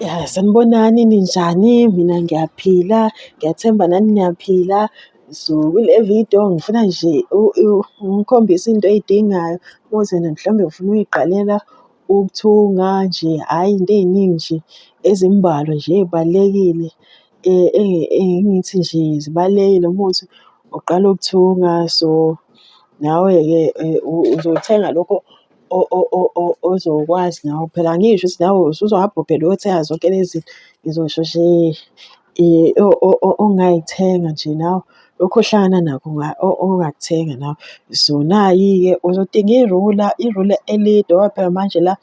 Ya, sanibonani ninjani? Mina ngiyaphila, ngiyathemba nani niyaphila. So kule video ngifuna nje ngikhombise into ey'dingayo ukuthi wena mhlawumbe ufuna uy'qalela ukuthunga nje, hhayi into ey'ningi nje ezimbalwa nje ey'balulekile. Engithi nje zibalulekile uma kuwukuthi uqala ukuthunga so nawe-ke uzothenga lokho ozokwazi nawe. Phela angisho ukuthi nawe usuzohamba uphela uyothenga zonke lezi zinto. Ngizosho nje ongay'thenga nje nawe lokhu ohlangana nakho ongakuthenga nawe. So nayi-ke uzodinga irula, irula elide ngoba phela manje la.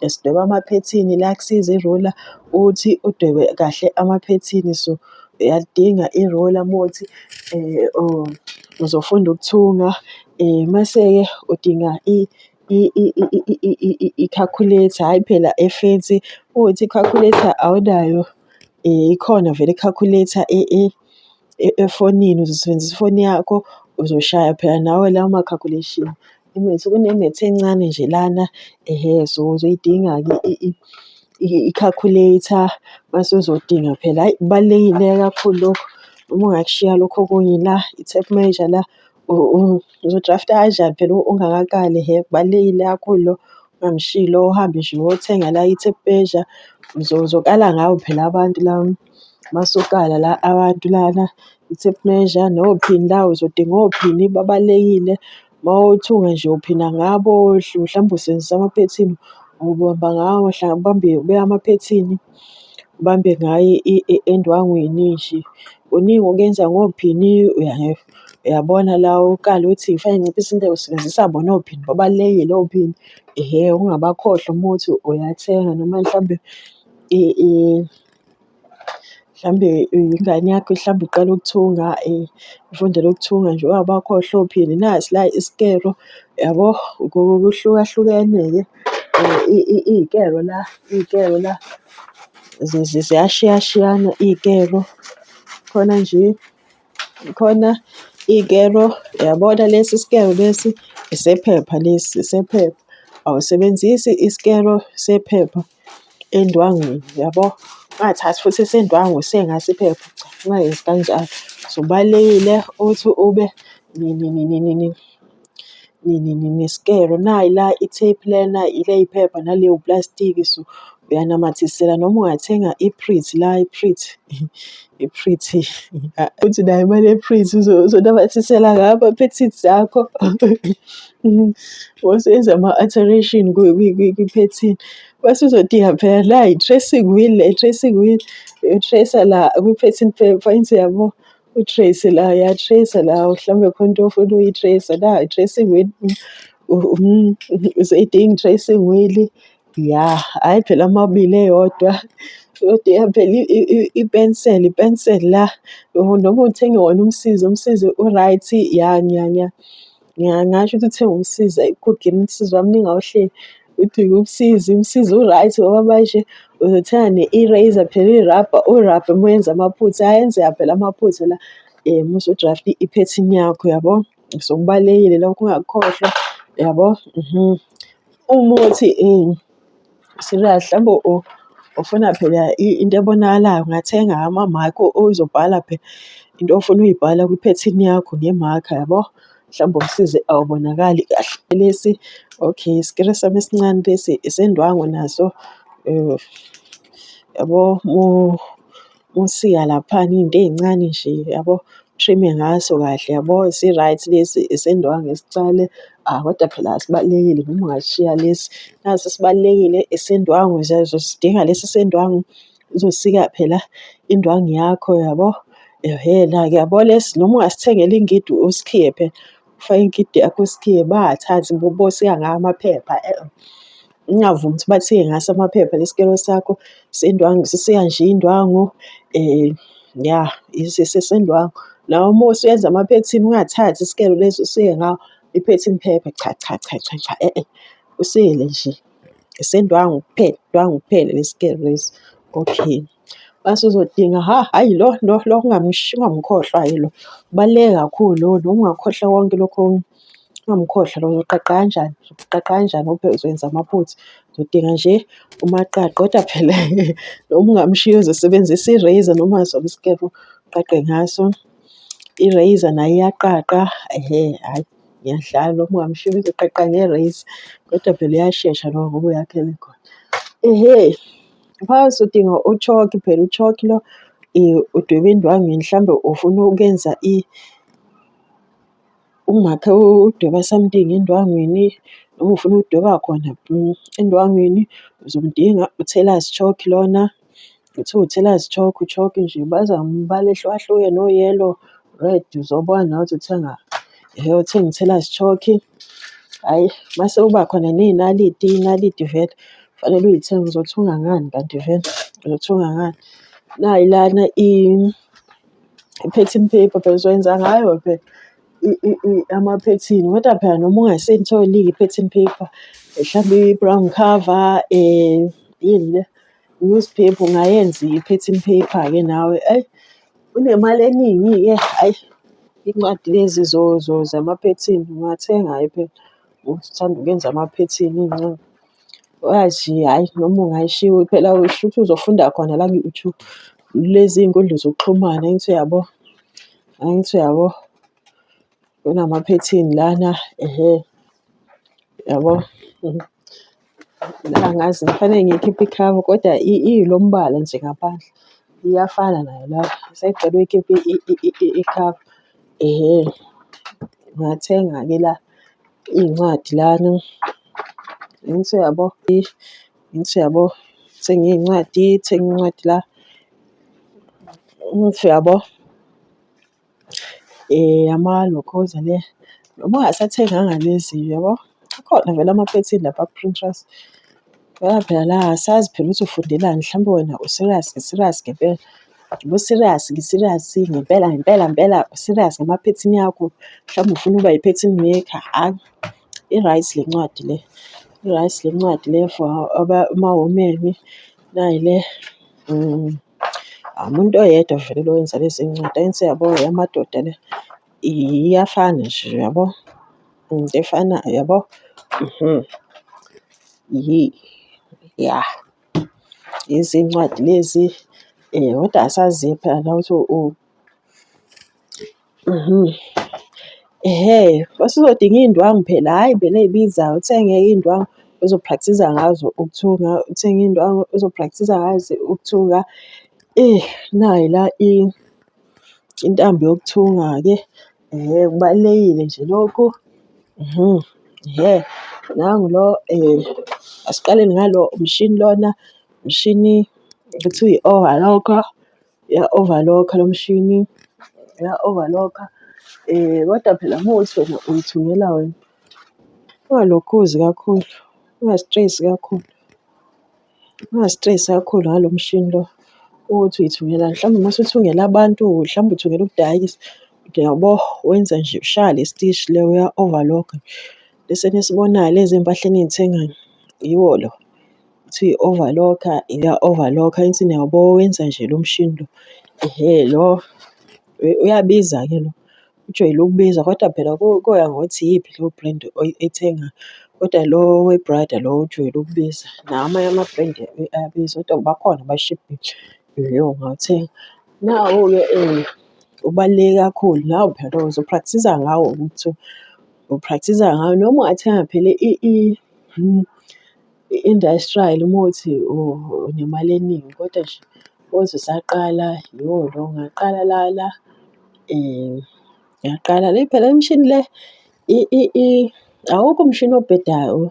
sidweba amaphethini la kusiza irola ukuthi udwebe kahle amaphethini so uyalidinga irola uma kuthi um uzofunda ukuthunga um mase-ke udinga ikhakhuletha hhayi phela efensi uma kuwukuthi ikhakhuletha awunayo um ikhona vele ikhakhuletha efonini uzosebenzisa ifoni yakho uzoshaya phela nawe lawo ma-calculation. Imethi, kunemethi encane nje lana ehe so uzoyidinga-ke i-calculator mase uzodinga phela hhayi kubalulekile kakhulu lokhu. Uma ungakushiya lokhu okunye la i-tape measure la uzo-draft-a kanjani phela ungakaqali hhe kubalulekile kakhulu lokhu. Ungamshiyi lo uhambe nje uyothenga la i-tape measure uzokala ngawe phela abantu la masokala la abantu lana i-tape measure nophini la uzodinga ophini babalulekile. Uma uthunga nje uphina ngabo, mhlawumbe usebenzisa amaphethini, ubamba ngawo, mhlawumbe ubambe ubeke amaphethini, ubambe ngayo endwangwini nje. Kuningi okuyenza ngophini, uyabona la ukale ukuthi ngifake nginciphise intengo usebenzisa bona ophini, babalulekile ophini. Ehhe, ungabakhohlwa uma uthi uyathenga noma mhlawumbe . Mhlawumbe ingane yakho mhlawumbe iqala ukuthunga ifundela ukuthunga nje ungabe wakhohlwa nasi la isikero yabo. Kuhlukahlukene-ke iy'kero la iy'kero la ziyashiyashiyana iy'kero khona nje. Khona ikero, uyabona lesi sikero lesi esephepha lesi esephepha. Awusebenzisi isikero sephepha endwangwini, uyabo? Ungathathi futhi esendwangu usengaso iphepha, cha ungayenzi kanjalo. So, kubalulekile ukuthi ube . nesikelo. Nayi la i-tape lena, yila iphepha nale uplastiki so uyanamathisela noma ungathenga i-print la i-print i-print uthi unayo imali ye-print uzonamathisela ngayo ama-paintings zakho. Mose enza ama-alteration kwi-painting mase uzodinga phela nayi i-tracing wheel le i-tracing wheel uyi-trace-a la kwi-painting paper enze yabo. utrace la uyatrace la mhlawumbe khona into ofuna uyitrace la i-tracing wheel useyidinga i-tracing wheel ya hhayi phela amabili eyodwa kodwa iyaphela ipenseli ipenseli la noma uthenge wona umsizi umsizi u-right ya ngiya ngiya Ngingasho ukuthi uthe umsiza i-good game umsiza wamninga ohleli. Uthi umsizi, umsizi u-right ngoba manje uzothenga ne-eraser phela irabha, urabhe uma wenza amaphutha ayenzeka phela amaphutha la uma usu-draft-a iphethini yakho yabo. So kubalulekile lokho ungakukhohlwa yabo . Umuthi . Serious mhlambe ufuna phela into ebonakalayo ungathenga ama-mark oyizobhala phela into ofuna uyibhala kwiphethini yakho nge-mark yabo. Mhlawumbe umsizi awubonakali kahle lesi okay isikiri sami esincane lesi esendwangu naso yabo . Usika laphana iy'nto ey'ncane nje yabo, u-trim-e ngaso kahle yabo, si-right lesi esendwangu esicane, hhayi kodwa phela sibalulekile noma ungasishiya lesi, nasi sibalulekile esendwangu sidinga lesi sendwangu, uzosika phela indwangu yakho yabo. Ehhena-ke yabo lesi noma ungasithengela ingidi usikhiye phela, ufake ingidi yakho usikhiye, bayathatha bosika ngawo amaphepha . Ngingavumi ukuthi bathiye ngaso amaphepha lesikilo sakho sendwangu sisiya nje indwangu ya sendwangu. Nawe uma usuyenza amaphethini ungathathi isikelo lesi usiye ngawo iphethini phepha cha cha cha cha cha usiyele nje esendwangu kuphela indwangu kuphela lesikelo lesi okay. Mase uzodinga hha hhayi lo lo lo ungamkhohlwa hhayi lo ubaluleke kakhulu lona ungakhohlwa konke lokhu okunye. Ungumkhohlwa lowo uzoqaqa kanjani, uzoqaqa kanjani ube uzowenza amaphutha. Uzodinga nje umaqaqi, kodwa phela noma ungamshiya uzosebenzisa i-razor noma sona isikebhe uqaqe ngaso. I-razor nayo iyaqaqa hhayi ngiyadlala noma ungamshiya uzoqaqa nge-razor, kodwa phela uyashesha lowo ngoba uyakhela ekhona. Ehhe mfazi udinga u-chalk phela u-chalk lo udweba indwangu yini mhlawumbe ufuna ukuyenza . Umakhe udweba something endwangwini noma ufuna ukudweba khona endwangwini uzomdinga u-tailors chalk lona, kuthiwa u-tailors chalk, u-chalk nje baza ngombala ehlukahlukene o-yellow, red uzobona nawe ukuthi uthenga hhe uthenga u-tailors chalk. Hhayi mase kuba khona ney'naliti, iy'naliti vele kufanele uy'thenge uzothunga ngani kanti vele uzothunga ngani. Nayi lana . I-pattern paper phela uzoyenza ngayo phela i- i- i- amaphethini kodwa phela noma ungaseyitholi-ke i-pattern paper mhlawumbe i-brown cover um yini le newspaper ungayenza i-pattern paper-ke nawe eyi unemali eningi-ke ayi iy'ncwadi lezi zo- zo- zamaphethini ungathenga-ke phela uthanda ukwenza amaphethini iy'ncwadi. Wazi hhayi noma ungayishiya phela shuthi uzofunda khona la ku-YouTube. Lezi iy'nkundla zokuxhumana angithi uyabo, angithi uyabo kunamaphethini lana ehe yabo. Angazi kufanele ngiyikhiphe ikhava kodwa ilo mbala nje ngaphandle iyafana nayo le ngisacela uyikhiphe ikhava ehe. Ngingathenga-ke la. Iy'ncwadi lana angithi uyabo angithi uyabo thenge iy'ncwadi thenge incwadi la angithi uyabo amalokhoza le noma ungasathenganga lezi uyabo akhona vele amaphethini lapha ku-Printers. Ngoba phela la asazi phela ukuthi ufundelani mhlawumbe wena u-serious serious ngempela ubu-serious ngi-serious ngempela ngempela ngempela u-serious ngamaphethini akho mhlawumbe ufuna ukuba yi-pattern maker hhayi i-right le ncwadi le i-right le ncwadi le for amawomeni nayi le umuntu oyedwa vele lo wenza lezi ncwadi ayenze yabo eyamadoda le. Iyafana nje uyabo? Into efanayo uyabo? Mhm. Yi ya. Izincwadi lezi kodwa asazi phela la ukuthi u mhm. Ehhe, mase uzodinga iy'ndwangu phela, hhayi vele ey'bizayo uthenge iy'ndwangu ozo-practise-a ngazo ukuthunga, uthenge iy'ndwangu ozo-practise-a ngazo ukuthunga. Nayi la . Intambo yokuthunga-ke kubalulekile nje lokhu nangu lo asiqale ngalo umshini lona, umshini kuthiwa i-overlocker, iya-overlock-a lo mshini, iya-overlock-a. Kodwa phela uma kuwukuthi wena uyithungela wena ungalokhuzi kakhulu, ungazitreyisi kakhulu. Ungazistresi kakhulu ngalo mshini lo ukuthi uyithungela mhlawumbe uma usuthungela abantu mhlawumbe uthungela ukudayisa uyabo. Wenza nje ushaya le stishi le uya-overlock-a bese nisibonayo lezi mpahleni eniy'thengayo yiwo lo. Uthi uyi-overlock-a iya-overlock-a insini uyabo wenza nje lo mshini lo. Ehhe lo uyabiza-ke lo. ujwayele ukubiza kodwa phela kuya ngokuthi iyiphi leyo brand oyithengayo. Kodwa lo wePrada lo ujwayele ukubiza, nawo amanye ama-brand ayabiza kodwa bakhona abashibhile leyo ongawuthenga. Nawo-ke ubaluleke kakhulu, nawo phela lowo uzophrakthiza ngawo ukuthi uphrakthiza ngawo noma ungathenga phela . I-industrial uma uthi unemali eningi kodwa nje wazi usaqala yho lo ngaqala lana ngaqala le phela le mishini le awukho umshini obhedayo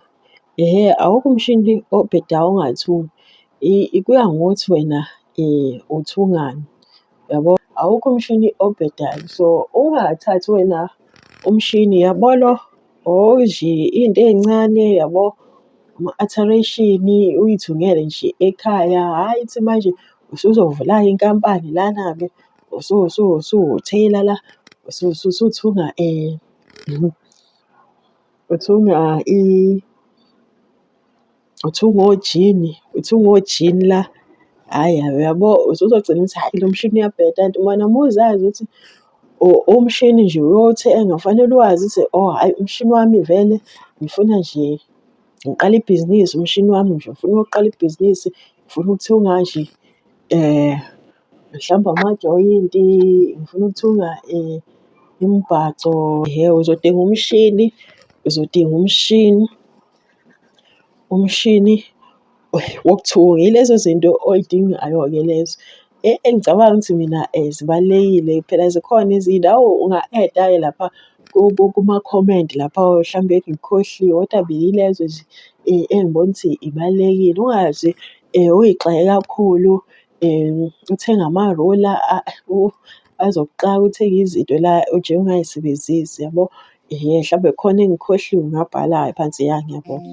hhe awukho umshini obhedayo ongathi kuya ngokuthi wena uthungani. yabo awukho umshini obhedayo so ungathathi wena umshini yabo lo oji into ey'ncane yabo ama-alteration uyithungele nje ekhaya hhayi ithi manje usuzovula inkampani lana-ke usuwutheyila la usuthunga uthunga . Uthi ungojini, uthi ungojini la. Hhayi hhayi uyabo usuzogcina ukuthi hhayi lo mshini uyabheda kanti wena uma uzazi ukuthi umshini nje uyowuthenga kufanele uwazi ukuthi oh hhayi umshini wami vele ngifuna nje ngiqale ibhizinisi umshini wami nje ngifuna ukuqala ibhizinisi, ngifuna ukuthunga nje mhlawumbe amajoyinti, ngifuna ukuthunga imibhaco. Yebo uzodinga umshini, uzodinga umshini. Umshini wokuthunga yilezo zinto oy'dingayo-ke lezo engicabanga ukuthi mina zibalulekile. Phela zikhona ezinye nawe unga-eda-ke lapha kumakhomenti lapha hlampe ngikhohliwe kodwa beyilezo nje engibona ukuthi ibalulekile. Ungaze uyigxeke kakhulu. Uthenge amarula azokuxaka, uthenge izinto la oje ungay'sebenzisi yabo. Hlampe khona engikhohliwe ngabhala phansi ya ngiyabonga.